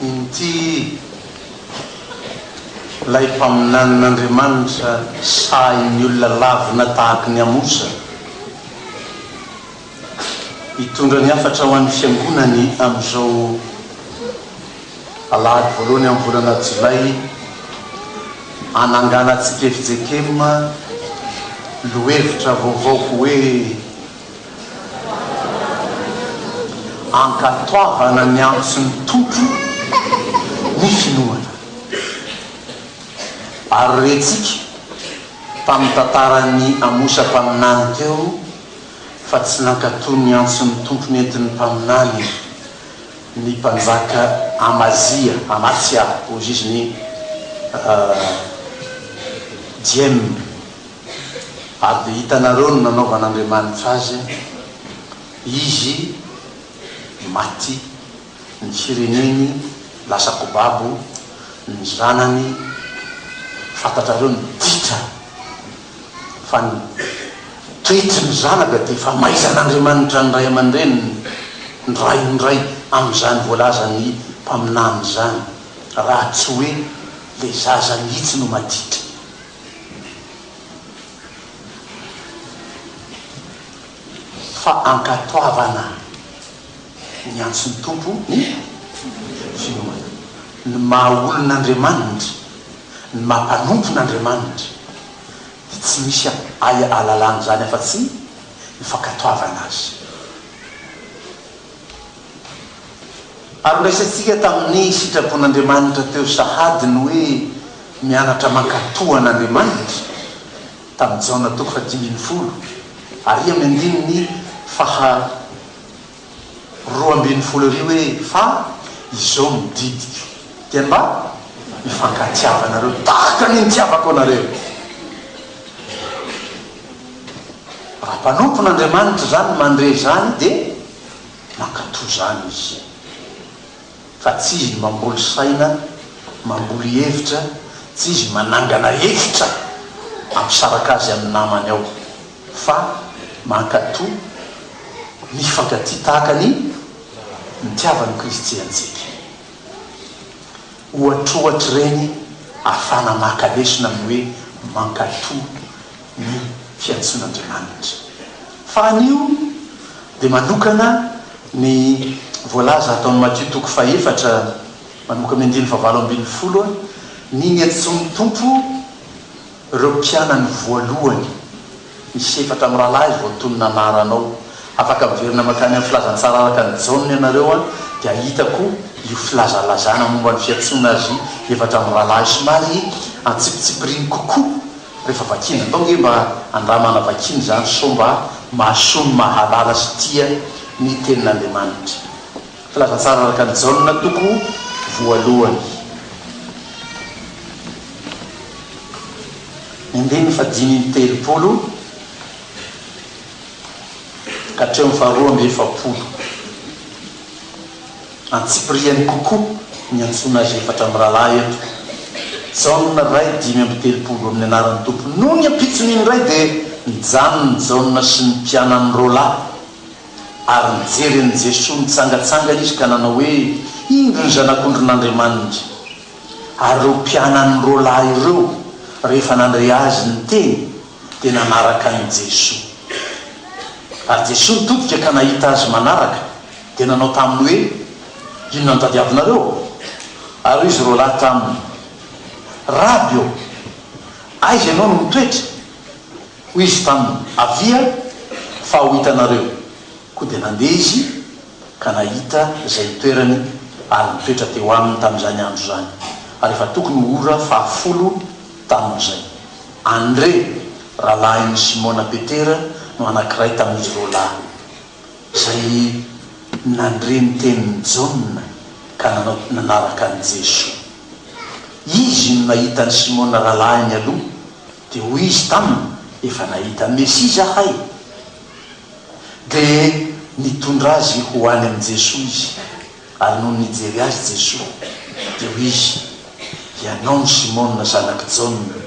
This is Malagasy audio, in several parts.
Inty ilay mpaminanin'Andriamanitra sahin'ny olona lavina tahaka ny Amosa. Hitondra ny hafatra ho an'ny Fiangonany amin'izao alahady voalohany amin'ny volana jolay hananganantsika FJKM lohevitra vaovao hoe Ankatoavana ny antson'ny Tompo ny finoana. Ary rentsika tamin'ny tantaran'ny Amosa mpaminany teo, fa tsy nankatò ny antson'ny Tompo nentin'ny mpaminany ny mpanjaka Amazia, Amatsia hoy izy ny Diem. Ary dia hitanareo ny nanaovan'Andriamanitra azy, izy maty, ny fireneny lasa kobabo, ny zanany, fantatrareo ny ditra fa ny toetry ny zanaka dia famaizan'Andriamanitra ny ray aman-dreniny ny ray ho ndray amin'izany voalazan'ny mpaminany izany raha tsy hoe ilay zaza mihitsy no maditra. Fa ankatoavana ny antson'ny Tompo ny finoana, ny maha olon'Andriamanitra. Ny maha mpanompo n' Andriamanitra dia tsy misy ay alalana izany afa-tsy ny fankatoavana Azy. Ary noraisintsika tamin' ny sitrapon' Andriamanitra teo sahady ny hoe mianatra mankatò an' Andriamanitra tamin'i Jaona toko fahadimy ambin'ny folo ary amin' ny andininy faha roa ambin'ny folo ery hoe fa izao no didiko dia mba hifankatiava anareo tahaka ny nitiavako anareo raha mpanompon' Andriamanitra izany mandre izany dia mankato izany izy fa tsy izy ny mamboly saina mamboly hevitra tsy izy manangana hevitra hampisaraka azy amin'ny namany ao Fa mankatò ny hifankatia tahaka ny nitiavan'i Kristy antsika. Ohatrohatr'ireny afana maka lesona amin'ny hoe mankatò ny fiantsoan'Andriamanitra. Fa anio dia manokana ny voalaza ato amin'ny Matio toko fahefatra manomboka amin'ny andininy fahavalo ambin'ny folo, ny niantsoan'ny Tompo, Ireo mpianany voalohany, Misy efatra mirahalahy voatonona anarana ao. Afaka miverina mankany amin'ny Filazantsara araka an'i Jaona ianareo an, dia hahita koa io filazalazana momba ny fiantsoana azy efatra mirahalahy somary antsipitsipiriny kokoa rehefa vakiana. Andao ange mba andramana vakiana izany sao mba mahasoa ny mahalala sy tia ny Tenin'Andriamanitra. Filazantsara araka an'i Jaona, toko voalohany. Ny andininy fahadimy amby telopolo ka hatramin'ny faharoa amby efapolo. Antsipiriany kokoa ny antsoina azy efatra mirahalahy eto. Jaona Ray dimy amby telopolo amin'ny anaran'ny Tompo. Noho ny ampitson'iny iray dia nijanona i Jaona sy ny mpianany roalahy Ary nijery an'i Jesoa nitsangatsanga izy ka nanao hoe, Indro ny Zanak'ondrin'Andriamanitra! Ary ireo mpianany roa lahy ireo, rehefa nandre Azy niteny, dia nanaraka an'i Jesoa. Ary Jesoa nitodika ka nahita azy manaraka, dia nanao taminy hoe, Inona no tadiavinareo? Ary hoy izy roa lahy taminy, Raby ô, aiza Ianao no mitoetra? Hoy izy taminy, Avia, fa ho hitanareo. Koa dia nandeha izy ka nahita izay nitoerany ary nitoetra teo aminy tamin'izany andro izany, ary efa tokony ho ora fahafolo tamin'izay. Andre, rahalahin'i Simona Petera, no anankiray tamin'izy roa lahy, izay nandre ny tenin'i Jaona ka nanao nanaraka an'i Jesoa. Izy no nahita an'i Simona rahalahiny aloha. Dia hoy izy taminy, Efa nahita ny Mesia izahay. Dia nitondra azy ho any amin'i Jesoa izy. Ary nony nijery azy Jesoa, dia hoy Izy, Ianao no Simona zanak'i Jaona,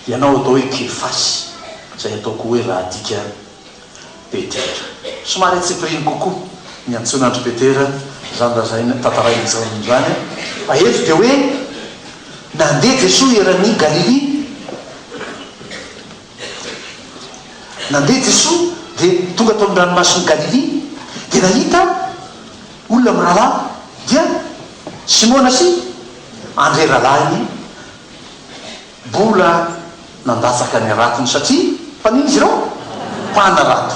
ianao atao hoe Kefasy, izay atao koa hoe Rahadika, Petera. Somary antsipiriany kokoa ny antsoina an-dry Petera izany raha izay tantarain'i Jaona izany, fa eto dia hoe nandeha Jesoa eran'i Galilia. Nandeha Jesoa dia tonga tao amin'ny ranomasin'i Galilia dia nahita olona mirahalahy, dia Simona sy Andrea rahalahiny. Mbola nandatsaka ny ratony satria mpaninona izy ireo? Mpanarato.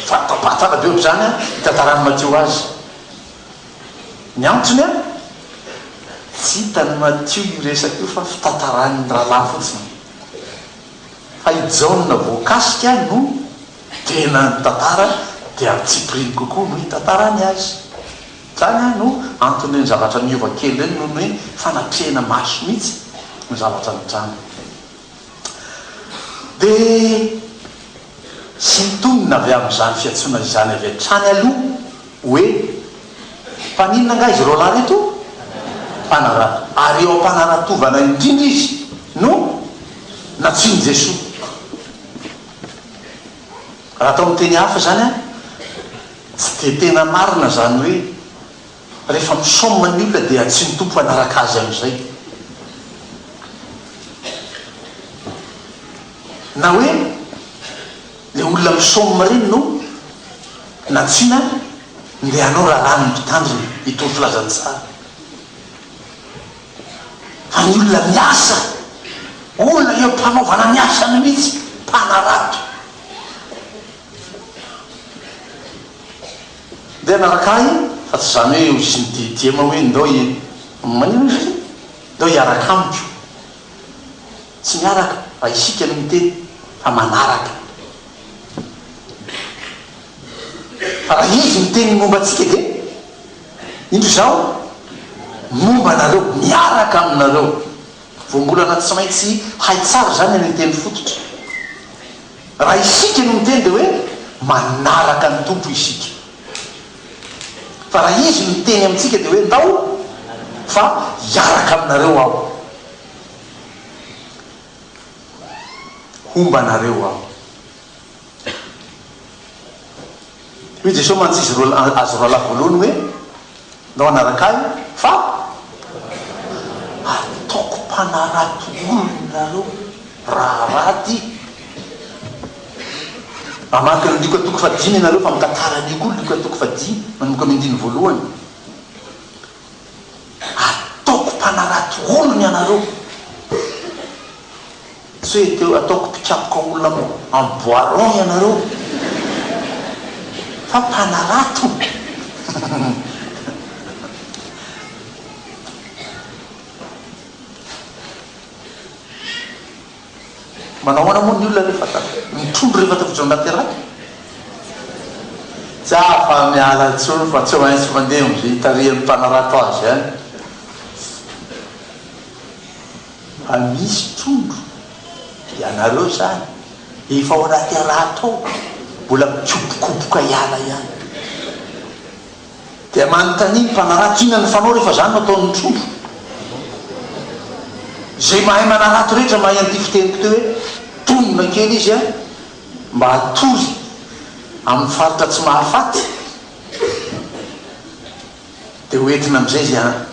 Fanapahan-tàna be ohatra izany an, itantaran'i Matio azy. Ny antony an, tsy hitan'i Matio io resaka io fa fitantaran'ny rahalahy fotsiny. Fa i Jaona voakasika no tena nitantara dia ampitsimpiriny kokoa no itantarany azy. Zany an no antony reny zavatra niova kely reny noho ny hoe fanatrehana maso mitsy ny zavatra nitranga. De sintonina avy amin'izany fiantsoana izany avy hatrany aloha hoe mpaninona angaha izy roalahy reto? Mpanarato. Ary eo ampanaratovana indrindra izy no nantsoin'i Jesoa. Raha atao amin'ny teny hafa izany an. Tsy dia tena marina izany hoe rehefa misaoma ny olona dia tsy ny Tompo hanaraka azy amin'izay. Na hoe ilay olona misaoma ireny no nantsina ndeha hanao raharahan'ny mpitandrina itony filazantsara. Fa ny olona miasa, olona eo am-panaovana ny asany mihitsy, mpanarato. Ndeha hanaraka ahy fa tsy izany hoe hoy ny DDM hoe ndao manino izy ity? ndao hiaraka amiko. Tsy miaraka raha isika no miteny fa manaraka. Fa raha izy miteny ny momba antsika dia indro izaho momba anareo, miaraka aminareo. Voambolana tsy maintsy hay tsara izany ilay teny fototra. Raha isika no miteny dia hoe manaraka ny Tompo isika. Fa raha Izy no miteny amintsika dia hoe ndao fa hiaraka aminareo aho. Homba anareo aho. Hoy Jesoa mantsy izy roa, azy roalahy voalohany hoe, Ndao hanaraka Ahy, fa hataoko mpanarato olona nareo raha raty. Mamaky ny Lioka toko fahadimy ianareo fa mitantara an'io koa Lioka toko fahadimy manomboka amin'ny andininy voalohany. Hataoko mpanarato olona ianareo. Tsy hoe te ataoko mpikapoka olona am bois rond ianareo fa mpanarato Manao ahoana moa ny olona rehefa mitrondro rehefa tafiditra ao anaty raha? Tsy afa miala intsony fa tsy maintsy mandeha am ze itarihan'ny mpanarato azy an! Fa misy trondro ianareo zany efa ao anaty araha tao mbola mikobokoboka hiala ihany dia manontania ny mpanarato inona ny fanao rehefa zany no ataon'ny trondro zay mahay manarato rehetra mahay an'ity fiteniko ty hoe tonona kely izy a mba hatory amin'ny faritra tsy mahafaty dia hoentina amin'izay izy a.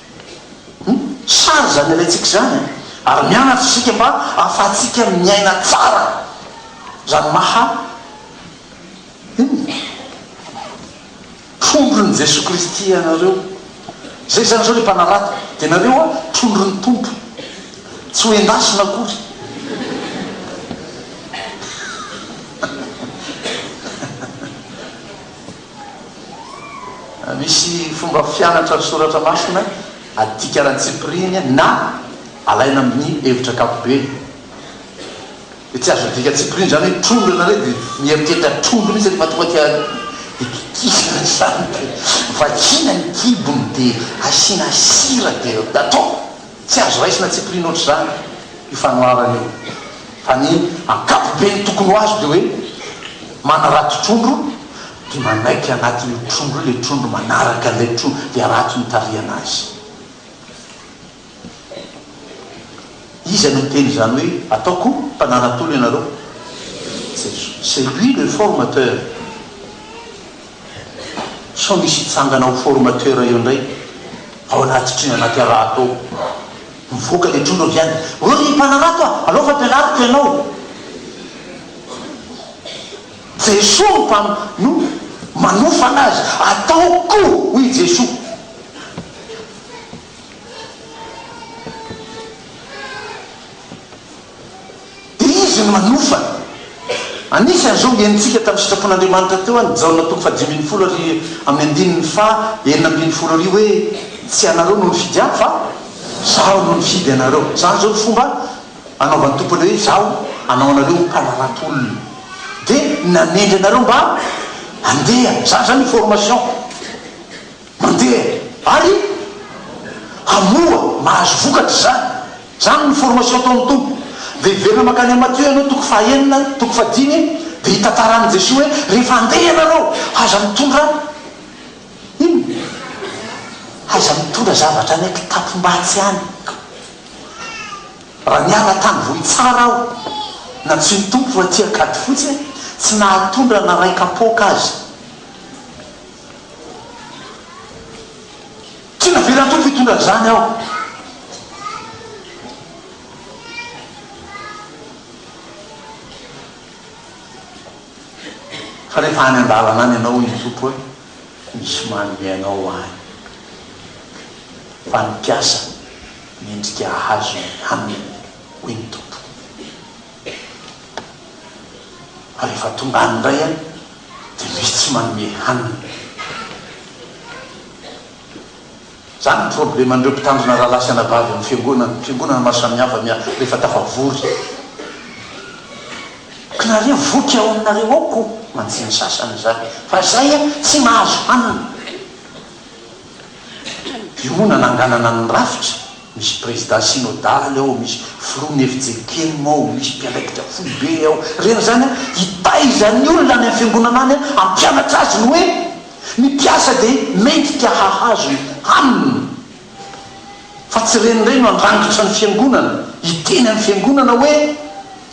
Sary izany alaintsika izany e! Ary mianatra isika mba ahafahantsika miaina tsara izany maha, inona? Trondron'i Jesoa Kristy anareo. Izay izany izao ilay mpanarato. Dia nareo an, trondron'ny Tompo. Tsy ho endasina akory. Misy fomba fianatra ny Soratra Masina adika ara-tsipiriany na alaina amin'ny hevitra ankapobeny. Dia tsy azo adika an-tsipiriany izany hoe trondro ianareo dia mieritreritra trondro mihitsy ary mahatonga dia hikikisana izany dia vakiana ny kibony dia asiana sira dia atao. Tsy azo raisina antsipiriany ohatr'izany io fanoharana io, fa ny ankapobeny tokony ho azo dia hoe manarato trondro dia manaiky anatin'io trondro io ilay trondro manaraka an'ilay trondro dia harato ny tarihana azy. Iza no niteny izany hoe ataoko mpananatolo ianareo? Jesoa. C'est lui le formateur. Sao misy hitsangana ho formateur eo indray ao anaty trino anaty harato ao. Mivoaka ilay trondro avy any. Hoe ry mpanarato a! Alao fa ampianariko ianao. Jesoa no mpam, no manofana azy. Ataoko! hoy i Jesoa. dia Izy no manofa. Anisan' izao ny henontsika tamin'ny sitrapon' Andriamanitra teo an' i Jaona toko fahadimy ambin'ny folo ary amin'ny andininy faha enina ambin'ny folo ary hoe, Tsy ianareo no nifidy Ahy fa Izaho no nifidy anareo. Izany izao no fomba anaovan'ny Tompo anareo hoe, Izaho hanao anareo ho mpanarato olona. Dia nanendry anareo mba handeha. Izany izany ny formation. Mandeha ary hamoha, mahazo vokatra izany. Izany no formation ataon'ny Tompo. Dia hiverina mankany amin'i Matthieu ianao toko fahenina, toko fahadimy, dia hitantaran'i Jesoa hoe, rehefa handeha ianareo, aza mitondra inona? Aza mitondra zavatra any an-kitapom-batsy any. Raha niala tany Vohitsara aho, nantsoin'ny Tompo ho aty Ankadifotsy, tsy nahatondra na iray kapoaka aza. Tsy navelan'ny Tompo hitondra an'izany aho. Fa rehefa any an-dalana any ianao, hoy ny Tompo hoe, misy manome anao any. Fa ny mpiasa mendrika hahazo ny haniny, hoy ny Tompo. Fa rehefa tonga any indray an, dia misy tsy manome hanina. Izany no probleman'ireo mpitandrina rahalahy sy anabavy amin'ny fiangonana, fiangonana maro samihafa miha rehefa tafavory. Knareo voky ao aminareo ao ko mantsy ny sasany izany, fa izay an tsy mahazo hanina. Diona nanganana ny rafitra. Misy prezida synodaly ao, misy filoha miefijery kely mao, misy mpiandraikitra foibe ao. Reny izany an! Hitaiza ny olona any amin'ny fiangonana any an! Hampianatra azy ny hoe ny mpiasa dia mendrika hahazo ny haniny. Fa tsy ireny indray no handrangitra ny fiangonana, hiteny amin'ny fiangonana hoe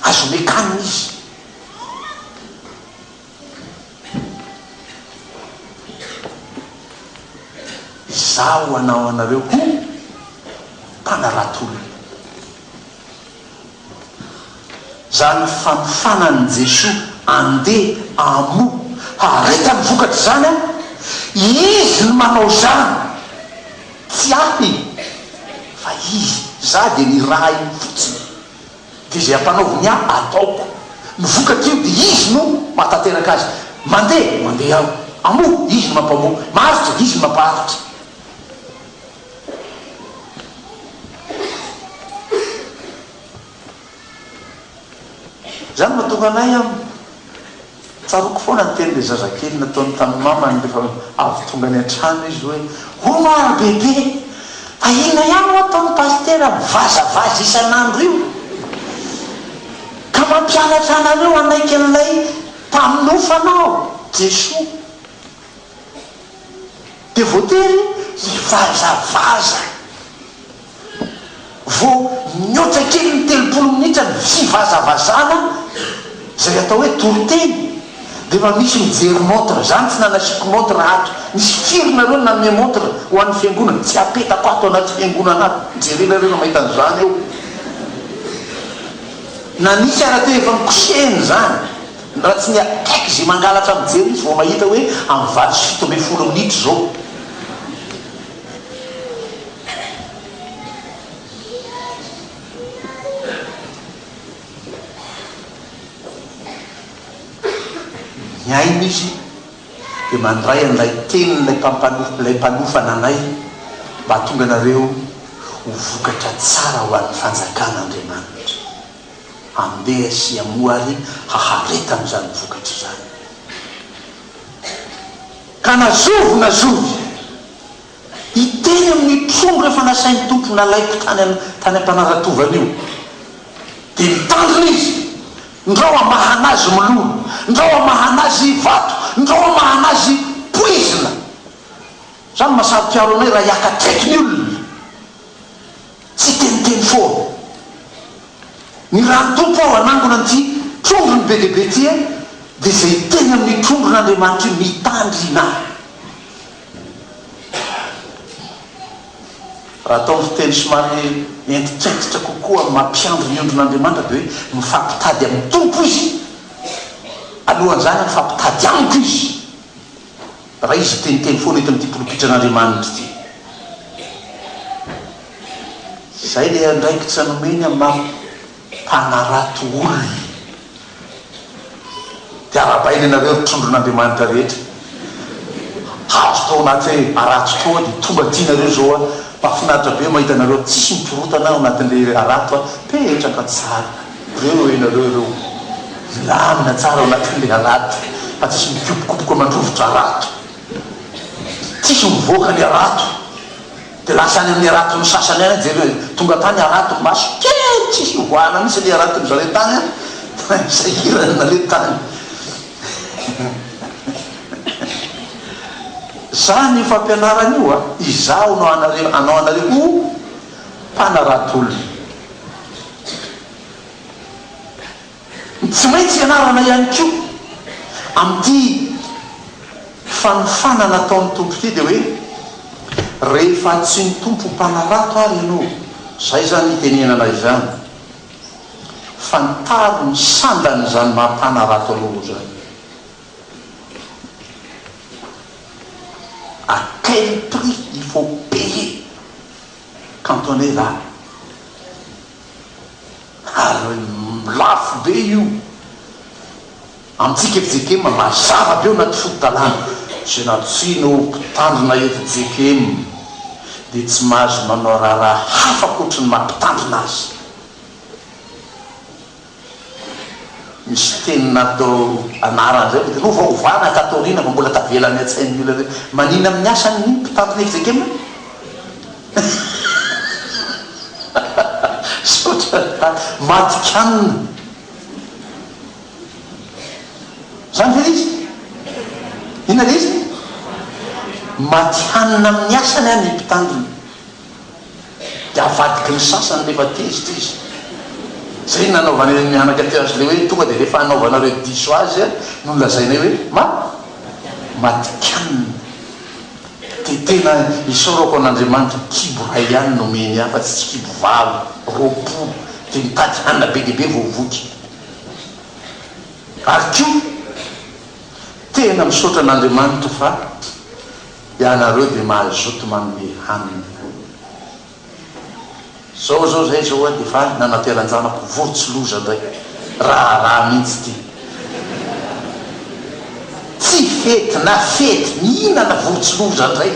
azo omeko hanina izy. Izaho hanao anareo ho mpanarato-olona. Izany fanofana an'i Jesoa andeha hamoa harita ny vokatra izany an, Izy no manao izany, tsy ahy fa Izy, izaho dia nirahiny fotsiny. Dia izay ampanaoviny ahy ataoko. Ny vokatr'io dia Izy no mahatanteraka azy. Mandeha, mandeha aho. Hamoa, Izy no mampamoa. Maharitra, Izy no mampaharitra. Izany no mahatonga anay amin'ny Tsaroako foana ny tenin'ilay zazakely nataony tamin'ny mamany rehefa avy tonga any an-trano izy hoe, Hono ry bebe, fa inona ihany no ataon'i Pasitera mivazavaza isan'andro io ka mampianatra anareo hanaiky an'ilay Mpanofana aho, Jesoa? Dia voatery hivazavaza. Vao nihoatra kely ny telopolo minitra ny fivazavazana izay atao hoe toriteny dia efa misy mijery montre, izany tsy nanasiako montre ato, misy firy nareo nanome montre ho an'ny fiangonana, tsy apetako ato anaty fiangonana ato, jerenareo raha mahita an'izany eo, na nisy ara teo efa nikosehina izany, raha tsy ny akaiky izay mangalatra mijery izy vao mahita hoe amin'ny valo sy fito ambin'ny folo minitra izao. Ny aina izy dia mandray an'ilay tenin'ilay ilay mpanofa nanay mba hahatonga anareo ho vokatra tsara ho an'ny fanjakan'Andriamanitra. Handeha sy hamoa ary hahareta amin'izany vokatra izany. Ka na zovy na zovy, hiteny amin'ny trondro efa nasain'ny Tompo nalaiko tany tany am-panaratovany io, dia mitandrina izy, ndrao hamahana azy mololo, ndrao hamahana azy vato, ndrao hamahana azy poizina. Izany maha saro-piaro anay raha hiaka akaiky ny olona. Tsiteniteny foana. Ny raha Tompo aho hanangona an'ity trondrony be dia be ity e, dia izay hiteny amin'io trondron'Andriamanitra io mitandrina ahy. Raha atao amin'ny fiteny somary entikentitra kokoa amin'ny maha mpiandry ny ondrin'Andriamanitra dia hoe, mifampitady amin'ny Tompo izy, alohan'izany mifampitady amiko izy. Raha izy miteniteny foana eto amin'ity polopitran'Andriamanitra ity. Izay ilay andraikitra nomeny amin'ny maha mpanarato olona. Dia arahabaina ianareo ry trondron'Andriamanitra rehetra. Hazo tao anaty hoe harato toa dia tonga aty nareo izao an. Mahafinaritra be mahita anareo tsisy mikorontana ao anatin'ilay harato an. Petraka tsara. Reo e nareo ireo milamina tsara ao anaty file harato fa tsisy mikopokopoko aman-drovitra rato. Tsisy mivoaka ny harato de lasa any amin'ny haraton'ny sasany any jereo e. Tonga tany harato maso kely tsisy ivoahana mihitsy anie haraton'ny zareo tany an. Sahirana nareo tany. Zany io fampianarana io a. Izaho no anareo, anao anareo ho mpanarato olona. Tsy maintsy ianarana ihany koa amin'ity fanofana nataon'ny Tompo ity dia hoe, rehefa tsy ny Tompo mpanarato ary ianao, izay izany itenenana izany, fantaro ny sandan'izany maha mpanarato anao izany. À quel prix il faut payer Cantonais va? Ary lafo be io amintsika JKM mazava be ao anaty fototalahy. Izay nantsoina ho mpitandrina eto JKM dia tsy mahazo manao raharaha hafa ankoatry ny maha mpitandrina azy. Misy teny natao anarana izay mety lova ovana tato aoriana fa mbola tavela any an-tsain'ny olona hoe maninona amin'ny asan'ny mpitantana exekem e? Misaotra ry Tany matikanina. Izany ve ilay izy? Inona ilay izy? Matihanina amin'ny asany an ny mpitandrina. dia avadiky ny sasany rehefa tezitra izy. Izay no nanaovan'ireny mianaka teo azy ireo hoe tonga dia rehefa hanaovanareo diso azy no lazainay hoe ma matikanina. Dia tena isaorako an'Andriamanitra kibo iray ihany no omeny ahy fa tsy tsy kibo valo, roapolo dia mitady hanina be dia be vao voky. Ary koa tena misaotra an'Andriamanitra fa. Ianareo dia mahay zoto manome hanina Zao zao zay zao a de efa nanateranjanako vory tsy loza ndray raharaha mintsy ty Tsy fety na fety mihinana vory tsy loza ndray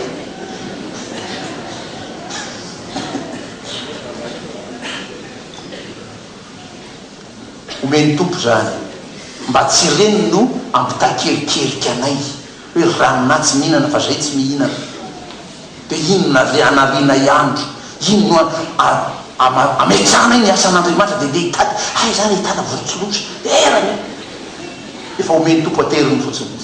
Omen'ny Tompo zany mba tsy ireny no ampitakerkerika anay. Hoe ranonà tsy mihinana fa zay tsy mihinana de inona re anarianay andro inona oa ametrahanay ny asan'Andriamanitra de ndeha hitady hay za re hitana vorontsiloza erany io efa omen'ny Tompo ateriny fotsiny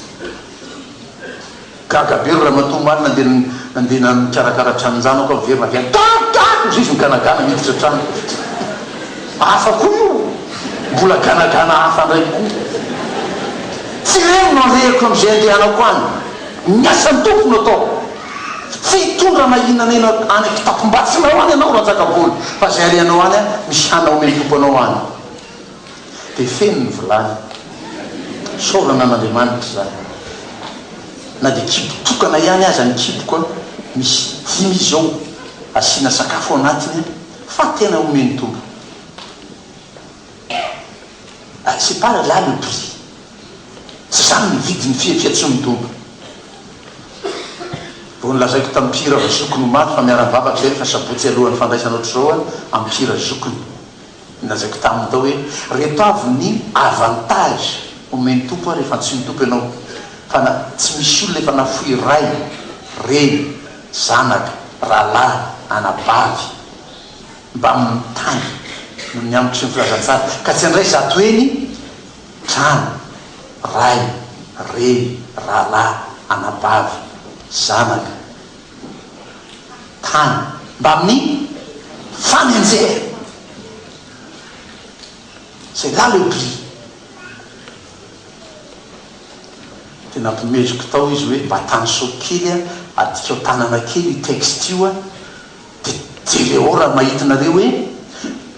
gaga be ry ramatoa omaly nandeha nandeha nikarakara tranonjanako aho miverina avy any gaga! hozizy miganagana miditra an-trano. Hafa koa io, mbola ganagana hafa ndray koa. Tsy ireny no alehako amin'izay andehanako any. Ny asan'ny Tompo no ataoko. Tsy hitondra na inona na inona any an-kitapom-batsinao any ianao Rantsakabolo fa izay alehanao any an, misy hanina omen'ny Tompo anao any. Dia feno ny vilany. Isaorana an'Andriamanitra izany. Na dia kibo tokana ihany aza ny kiboko an, misy dimy izy ao asiana sakafo ao anatiny an. Fa tena omeny tombony ah c'est pas là le prix tsy zany ny vidiny fihefia tsy ny tombony vao nolazaiko tam mpihira va zokiny omaly fa miara mivavaka izahay refa sabotsy alohany fandraisana otrzao an am mpihira zokiny ny lazaiko taminy tao hoe reto avy ny avantage omeny tompo an refa ntsiny tompo ianao fa na tsy misy olona efa nafoy ray, reny, Zanaka, rahalahy, anabavy, mbamin'ny tany, noho ny ambiko sy ny filazantsara, ka tsy handray zato heny trano, ray, reny, rahalahy, anabavy, zanaka, tany, mbamin'ny fanenjehana. C'est là le prix. Dia nampimeziko tao izy hoe mba tanosoko kely a, adikao tanana kely io texte io a, dia jereo raha mahita nareo hoe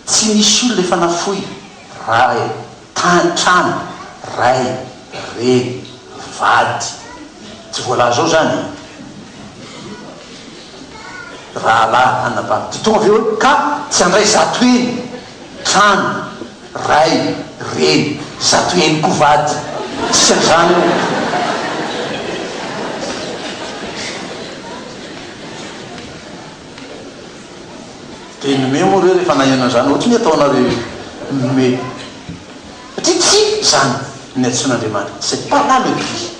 tsy misy olona efa nafoy, ray, tany, trano, ray, reny, vady, tsy voalaza ao izany e, rahalahy, anabavy, dia tonga avy eo hoe ka tsy handray zato heny, trano, Ray, reny, zato heny koa vady. Dikan'izany hoe. Dia ny me moa re rehefa naheno an'izany, ohatry ny ataonareo io me. Satria tsy izany ny antsoin'Andriamanitra, c'est pas là le but. Miverina.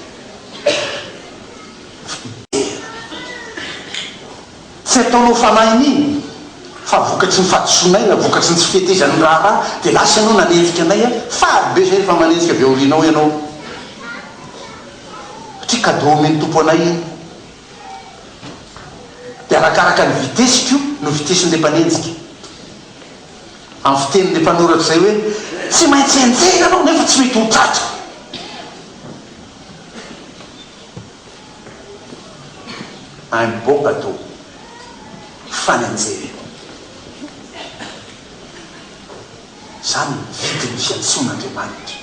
Tsy ataonao fanahy an'iny fa vokatry ny fahadisoanay na vokatry ny tsy fihetezan'ny raharaha dia lasa ianao nanenjika anay an! Faly be izay rehefa manenjika avy aorianao ianao satria cadeau omen'ny Tompo anay iny. Dia arakaraka ny vitesse-ko no vitesse-n'ilay mpanenjika. Amin'ny fitenin'ilay mpanoratra izay hoe tsy maintsy enjehina ianao nefa tsy mety ho tratra. any Bobado, Fanenjehina. Izany no vidin'ny fiantsoan'Andriamanitra.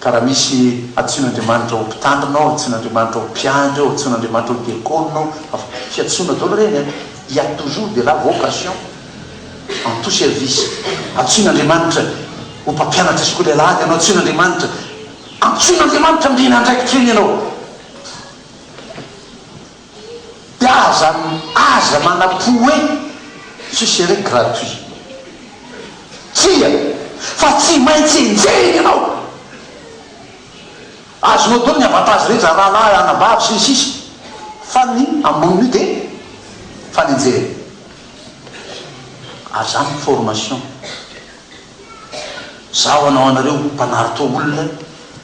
Ka raha misy antsoin'Andriamanitra ho mpitandrina ao, antsoin'Andriamanitra ho mpiandry ao, antsoin'Andriamanitra ho diakona ao, avy fiantsoana daholo ireny an! Il y a toujours de la vocation en tout service. Antsoin'Andriamanitra ho mpampianatra sekoly alahady ianao, antsoin'Andriamanitra. Antsoin'Andriamanitra handriana andraikitra iny ianao, dia aza aza manapo hoe, Ce serait gratuit. Tsia, fa tsy maintsy enjehina ianao. Azonao daholo ny avantages rehetra, rahalahy, anabavy, sy ny sisa, fa ny ambonin'io dia fanenjehana. Ary izany ny formation. Izaho hanao anareo ho mpanarto olona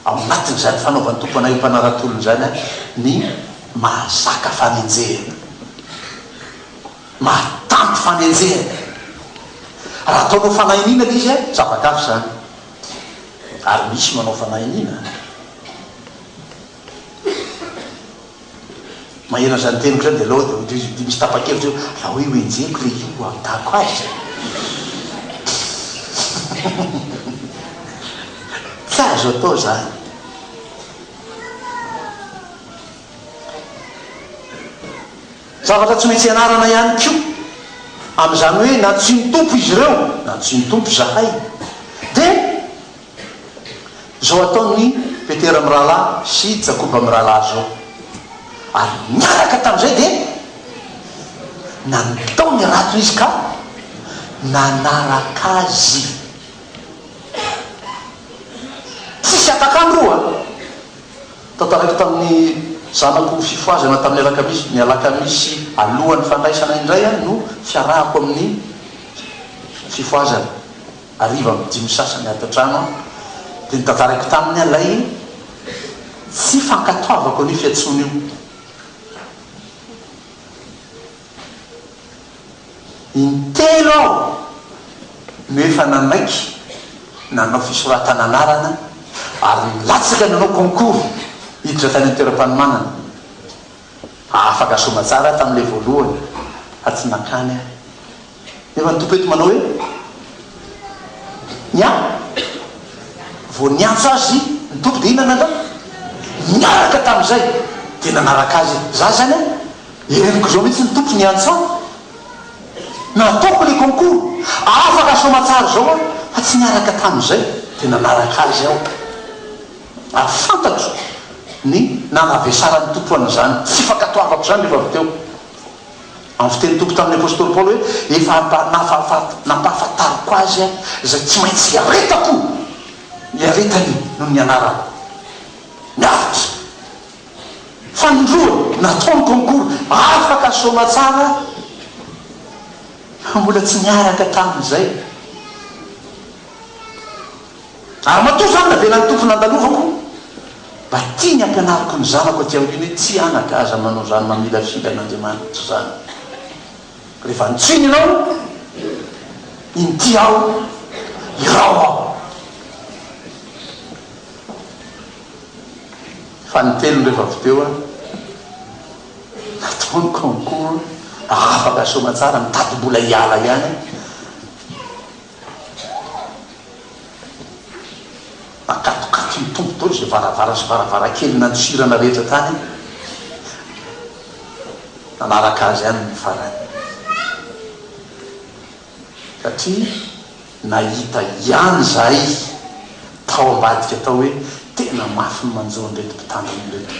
ao anatin'izany fanaovan'ny Tompo anay ho mpanarato olona izany ny mahazaka fanenjehana, mahatanty fanenjehana. Raha ataonao fanahy iniana ilay izy, zava-kafa izany. Ary misy manao fanahy iniana. Maheno an'izany teniko izany dia aleo dia hoy misy tapa-kevitra eo, raha hoe hoenjehiko ilay hira ho ampitahako azy izay. Tsy azo atao izany. Zavatra tsy maintsy ianarana ihany koa, amin'izany hoe nantsoin'ny Tompo izy ireo, nantsoin'ny Tompo izahay, dia. Izao ataon'i Petera mirahalahy sy Jakoba mirahalahy izao. Ary niaraka tamin'izay dia nandao ny ratony izy ka nanaraka azy. Tsisy atak'andro roa tao taraiky tamin'ny zanako fifohazana tamin'ny alakamisy. Ny alakamisy alohan'ny fandraisana indray no fiarahako amin'ny fifohazana. hariva amin'ny dimy sasany ato an-trano aho dia notantarako taminy ilay tsy fankatoavako an'io fiantsoana io. In-telo aho no efa nanaiky nanao fisoratana anarana ary nilatsaka nanao concours hiditra tany an-toeram-panomanana. Afaka soamantsara aho tamin'ilay voalohany fa tsy nankany aho. Nefa ny Tompo eto manao hoe, Ny ahy, vao niantso azy ny Tompo dia inona nandray? Niaraka tamin'izay dia nanaraka Azy izy. Za izany an, henoko izao mihitsy ny Tompo niantso ahy, nataoko ilay concours, afaka soamatsara izao aho, fa tsy niaraka tamin'izay dia nanaraka Azy aho. Ary fantatro ny nanavesaran'ny Tompo an'izany, tsy fankatoavako izany rehefa avy teo. Amin'ny fitenin'ny Tompo tamin'ny apostoly Paoly hoe, Efa nampahafantariko azy izay tsy maintsy hiaretako, ny aretany noho ny anarako. Miaritra! Fanindroany nataony concours, afaka soamatsara fa mbola tsy niaraka tamin'izay. Ary matoa izany navelan'ny Tompo nandalovako, mba tiany hampianariko ny zanako aty aoriana hoe tsy anaka aza manao izany mamilafila an'Andriamanitra izany. Rehefa antsoiny ianao, inty ao, irao ao. Fanintelony rehefa avy teo aho, natao ny concours mba hahafaka soa aman-tsara, mitady mbola hiala ihany aho. Nakatokaton'ny Tompo tao izay varavara sy varavarankely nantsirana rehetra tany, nanaraka azy any ny farany, satria nahita ihany izahay tao ambadika tao hoe tena mafy ny manjo an'ireto mpitandrina ireto.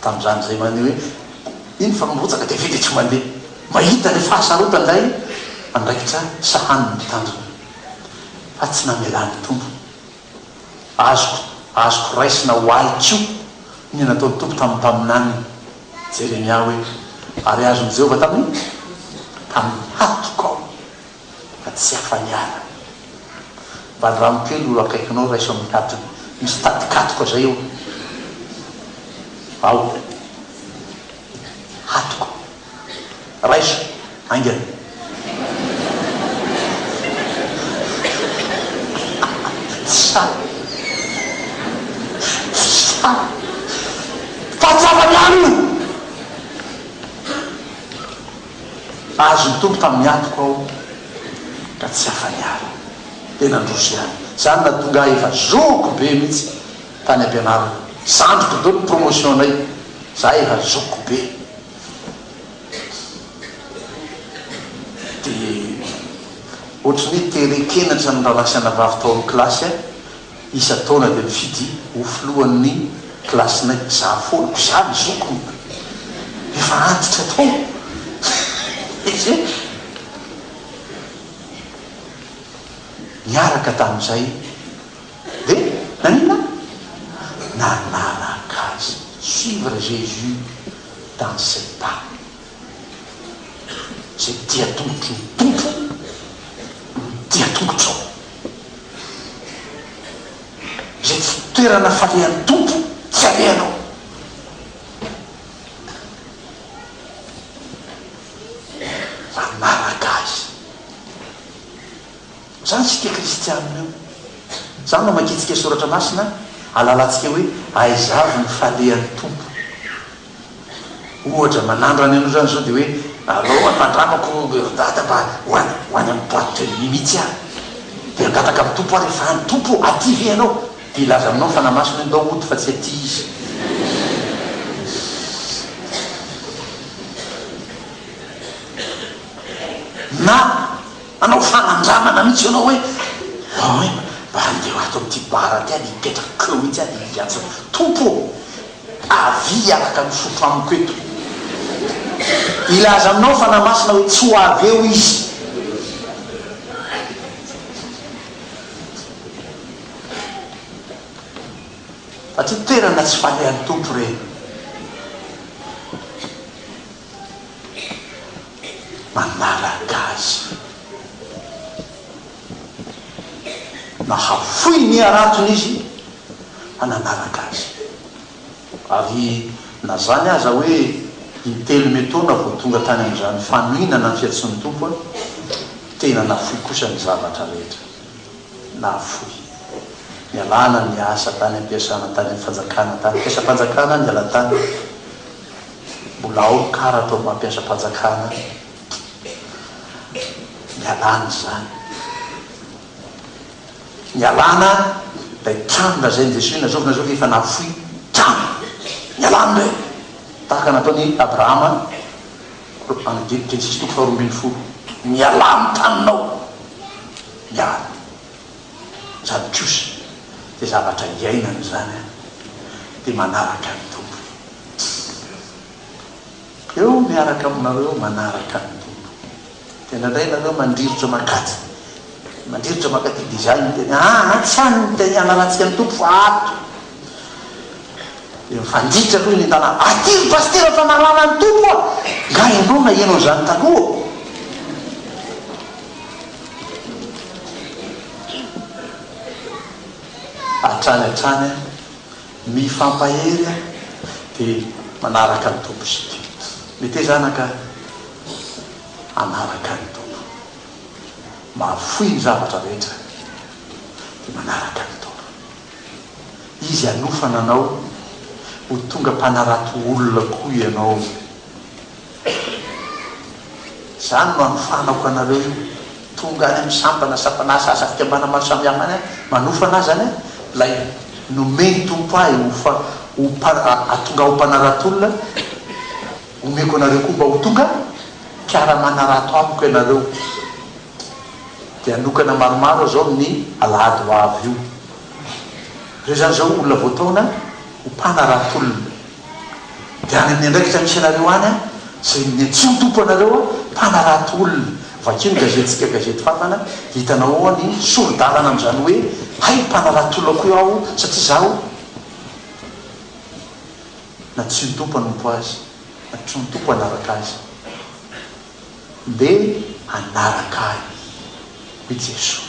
Tamin'izany izay maneho hoe iny fa mirotsaka dia vita dia tsy mandeha. Mahita ny fahasarotan ilay andraikitra sahanin'ny mpitandrina fa tsy namelany tompo. Azoko azoko raisina ho ahy koa ny nataon'ny Tompo tamin'ny mpaminany Jeremia hoe, Ary azon'i Jehovah tamin'ny? tamin'ny hatoko aho. fa tsy afa-hiala. Valirano kely io akaikinao raiso amin'ny hatony misy tadikatoka izay eo ao hatoka raiso haingana. Tsy sahy tsy sahy fa tsy afa-miala io. Azon'ny Tompo tamin'ny antoko aho ka tsy afa-niala. Dia nandroso ihany. Izany nahatonga ahy efa zoky be mihitsy tany am-pianarana. Zandriko daholo ny promotion-nay. Izahay efa zoky be. Dia ohatry ny hoe te-reken-atran'ny rahalahy sy anabavy tao amin'ny kilasy aho. Isan-taona dia mifidy ho filohan'ny kilasinay izaho foana. Koa izaho ny zokiny efa antitra tao. Niaraka tamin'izay dia naninona? Nanaraka azy. Suivre Jésus dans ses pas. Izay tia tongotry ny Tompo no tia tongotrao. Izay tsy toerana falehan'ny Tompo tsy alehanao. Manaraka Azy. Izany isika kristianina io. Izany no amakiantsika soratra masina, ahalalantsika hoe aiza avy ny falehan'ny Tompo. Ohatra, manandro any amin'ireo any izao dia hoe, Alao hono mandramako ry dada mba ho any ho any amin'ny boite de nuit mihitsy aho. Dia hangataka amin'ny Tompo aho rehefa any, Tompo ô, aty ve Ianao? Dia hilaza aminao ny Fanahy Masina hoe, Ndao hody fa tsy aty Izy. Na hanao fanandramana mihitsy ianao hoe, Ndao e, mba handeha ato amin'ity bar aty aho dia hipetraka eo mihitsy aho dia hiantso hoe, Tompo ô, Avia hiaraka misotro amiko eto. Hilaza aminao ny Fanahy Masina hoe tsy ho avy eo Izy. Fa tsy toerana tsy falehan'ny Tompo ireny. Manaraka Azy. Nahafoy ny haratony izy. hananaraka azy. Ary na zany aza hoe intelo me taona vao tonga tany amin'izany fanohinana ny fiantsoan'ny Tompo aho, tena nafoy kosa ny zavatra rehetra. Nafoy. Nialana ny asa tany am-piasana, tany amin'ny fanjakana, tany am-piasam-panjakana aho niala tany. Mbola ao ny karatra ao am-piasam-panjakana aho. Nialana izany. Nialana ilay trano lazain'i Jesoa hoe nazovina izao fa efa nahafoy trano. Nialany indray. Tahaka nataon'i Abrahama any Genesisy toko faharoa ambin'ny folo. Mialà amin'ny taninao. Miala. Izany kosa dia zavatra iainana izany an. Dia manaraka ny Tompo. Eo miaraka aminareo manaraka ny Tompo. Dia indraindray nareo mandrirotra mankaty mandrirotra mankaty dia izany ny teny ah ah tsy any ny teny anarantsika ny Tompo fa ato. Dia mifanditra aloha ny tanàna. Aty ry Pasitera fa nalana ny Tompo ah. Nga ianao naheno an'izany taloha ô? Hatrany hatrany an, mifampahery an, dia manaraka ny Tompo isika. Mety hoe zanaka. Hanaraka ny Tompo. Mahafoy ny zavatra rehetra dia manaraka ny Tompo. Izy hanofana anao ho tonga mpanarato olona koa ianao. Izany no anofanako anareo io. Tonga any amin'ny sampana, sampan'asa, asa fikambanana maro samihafa any aho, manofana azy any, ilay nomen'ny Tompo ahy ho fa, ho mpa, hatonga aho mpanarato olona, Omeko anareo koa mba ho tonga mpiara-manarato amiko ianareo. Dia hanokana maromaro aho izao amin'ny alahady ho avy io. Ireo izany izao olona voataona ho mpanarat'olona. Dia any amin'ny andraikitra misy anareo any aho, izay niantsoa-tompo anareo aho, mpanarato olona. Vakio ny gazetintsika Gazety Fantana, dia hitanao ao ny sori-dalana amin'izany hoe, Hay mpanarato olona koa aho, satria izaho. na tsy ny Tompo hanompo azy na tsy ny Tompo hanaraka azy. Ndeha hanaraka ahy, hoy Jesoa.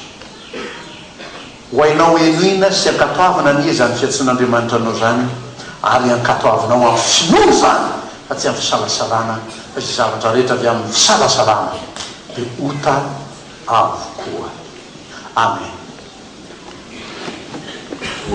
Ho hainao henoina sy ankatoavina anie izany fiantsoan'Andriamanitra anao izany, ary ankatoavinao amin'ny finoana izany fa tsy amin'ny fisalasalana, fa izay zavatra rehetra avy amin'ny fisalasalana dia ota avokoa. Amen.